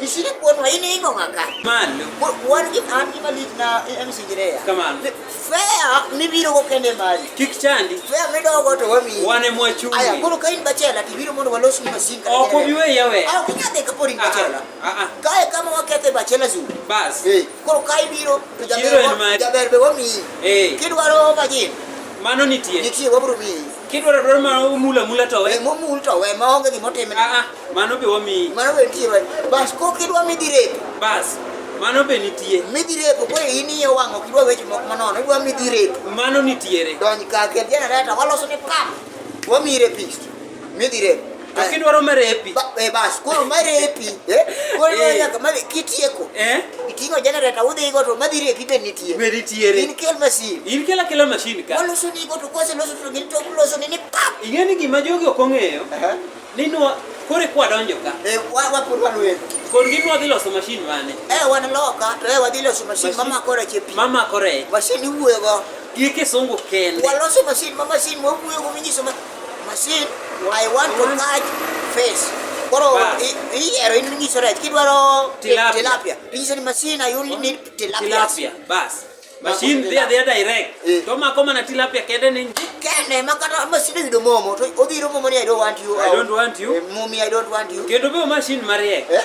Isini kuon wa ini ingo ngaka. Malo. Kuon ki an ki malit na MC Girea. Kamano. Fea ni biro go kende mali. Kik chandi. Fea mi do go to wami. Wane mwa chungi. Aya koro kain bachela ti biro mondo walos ni masin ka. Oko biwe yawe. Ah kunya de ka pori bachela. Ah ah. Kae kama wakete bachela zu. Bas. Eh. Koro kai biro. Jaber be wami. Eh. Kidwaro bajin. Mano nitie. Nitie wabro mi. Kidwaro adwara ma omul amula to we. Eh, momul to we ma onge gima otimne. Ah ah, mano be wamiyi. Mano be nitie wach. Bas ko kidwa midhi repo. Bas, mano be nitie. Midhi repo koro in iye wang' ok idwa weche moko manono, idwa midhi repo. Mano nitiere. Donj ka kel jenereta waloso ni pap. Wamiyi repist. Midhi repo. Akidwaro marepi. Eh bas, koro marepi. Eh? Koro eh. nyaka ma kitieko. Eh? Itingo generator udhi go to madhi repi be nitie. Be nitie. In kel machine. In kel akela machine ka. Waloso ni go to kose loso to gin to loso ni ni pap. Ing'eni gima jogi ok ong'eyo. Eh. Ni nwa kore kwa donjo ka. Eh wa wa pur wa lwe. Kor gin wadhi loso machine mane? Eh wan loka to eh wadhi loso machine mama kore chepi. Mama kore. Machine iwuoyo go. Gi kisungu kende. Waloso machine mama machine mwa wuoyo go minyiso Masin, I want to catch fish. Koro Bass. i- iyiero in inyiso rech kidwaro ti- Tilapia. tilapia inyiso ni masin I only need tilapia tilapia bas mashin dhi adhiya direct Eh. to mako mana tilapia kende ni nji kende ma kata masin oyudo momo to odhiro momo ni I don't want you I don't want you. Eh, mumi I don't want you kendo be mashin mariek Eh?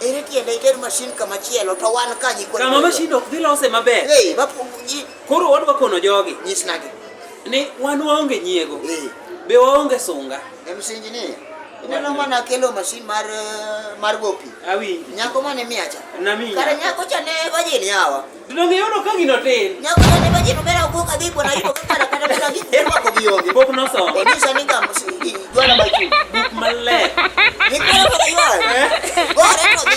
Ere tiende iter mashin kama chielo to wan ka nyikwa. Kama mashin ok dhi lose maber. Hey, koro wadwa kono jogi. Nyisnagi. Ni wan waonge nyiego. Hey. Be waonge sunga. E msingi ni. Ineno mana kelo mashin mar eh, mar gopi. Awinji. Nyako mane miacha. Nami. Kare nyako cha ne wajini hawa. Donge yodo ka gino tin. Nyako ne ba jino bera ugo ka dipo na ipo kata kata bera gi. Ema ko bi oge. Pok no so. Ni sa ni kam si jwana ba chu. Buk maler. Ni kala ka ywa. Go re ko bi.